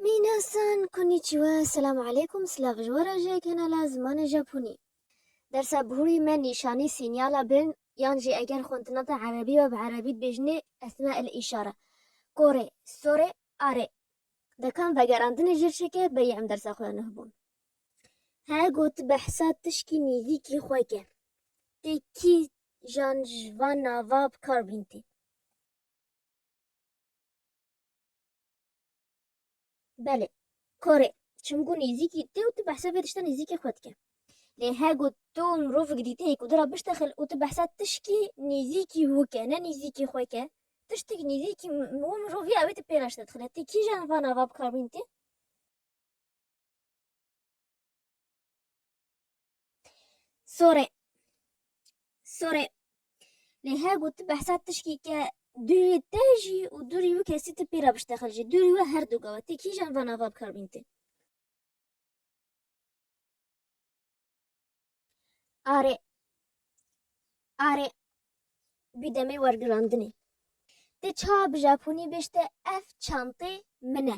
Minasan konnichiwa selamu aleykum silav ji we re ji kanala zimanê Japonî. Dersa bihurî me nîşanî sînyala bin yan jî eger xwendina te erebî be bi erebî dibêjinê esma el îşare, korê, sorê, arê. Dekan vegerandinê jê çêke berî em dersa xwe ya nuh bûn. He got behsa tişkî nîzîkî xwe ke. Tê kî jan ji van nava bi kar bîn tê. Belê, kore, çim ku nêzîkî te û tu behsa vê tişta nêzîkê xwe dike. Lê her ku tu mirovik dîtê ku tu ra biştexil û tu behsa tişkî nêzîkî wî ke, ne nêzîkî xwe ke, tiştik nêzîkî wî mirovî ya wê tu pê re ji te dixile. Ti kîjan van ava bikarbînîtî? Sorê. Sorê. Lê her ku tu behsa tişkî ke dûrî te jî û dûrî wî kesî tu pê re biştexil jî dûrî we her du gawe tê kîjan van ava bi kar bîn tê. Arê. Arê. Bi demê wergirandinê. Tê ça bi japonî bêjte ev çantê min e.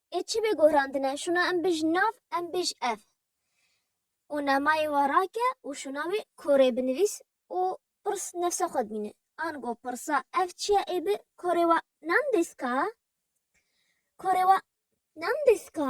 Ê çi bê guhrandine, şûna em bij nav, em bij ev û namayê we rake û şûna wê korê binivîs û pirs nefsa xwe dimîne. Ango pirsa ev çi ye ê bi korê we nam dêska? Korê we nam dêska?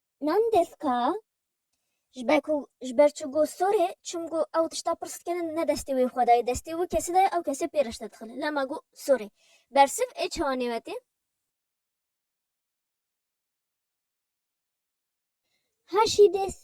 Nan deska ji ber ku ji ber çi got sorê çimku ew tişta pirs dikene ne destê wê xwe dayê destê wê kesê dayê ew kesê pê reşte dixile la ma got sorê bersiv ê çawa nêwetê. Haşî dest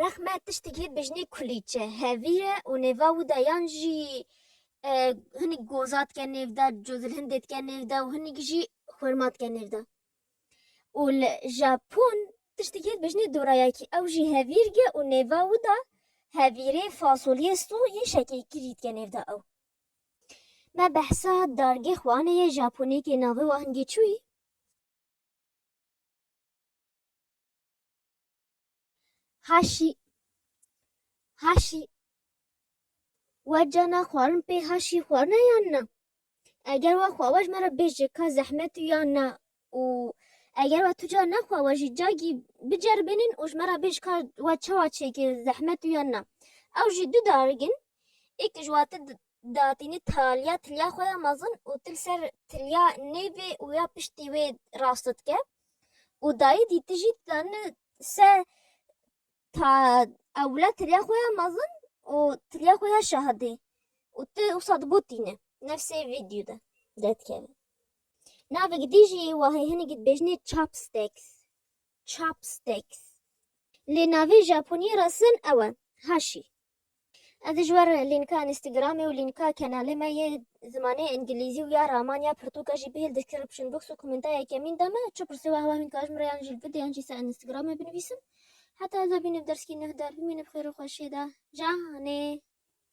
Rexme tiştekî bijnê kulîçe, hevî ye û nêva wî de yan jî hinek goza dike nêv de, cozilhindê dike nêv de û hinek jî xurma dike nêv de. Û li Japon tiştekî bijnê dorayakî ew jî hevîr ye û nêva wî de hevîrê fasoliyê so yên şekekirî dike nêv de ew. Me behsa dargê xwe anê yê Japonêkê navê we Hingê Çûyî. Haşî Haşî We cana xwarin pê haşî xwarine yan na? Eger we xwawe ji me re bêje ka zehmet û yan na û eger we tu ca nexwa we jî cagî biceribênin û ji me re bêj ka we çawa çêkir zehmet û yan na. Ew jî du darigin êk ji wate datînî taliya tiliya xwe ya mezin û til ser tiliya nêvê û ya piştî wê rasto dike. û dayî dî tu jî ditanî se ta ewle tiriya xwe ya mezin û tiriya xwe ya şahidî û tu wisa digotîne nefsê vîdyo de derdikeve. Navê gidî jî wa hê hinekî dibêjinê chopsticks chopsticks lê navê Japoniyê re sin ew e hashi. Ez ji wer lînka Instagramê û lînka kenalê me yê zimanê Îngilîzî û ya Ramanya Pirtûka jî bihêl description box û komenta yekemîn de me. Çi pirsê wahwa hîn ka ji min re yan jî li vide yan jî ser Instagramê binivîsin. Heta ez bînim derskî neh der bimînim xêr û xweşiyê de. Canê.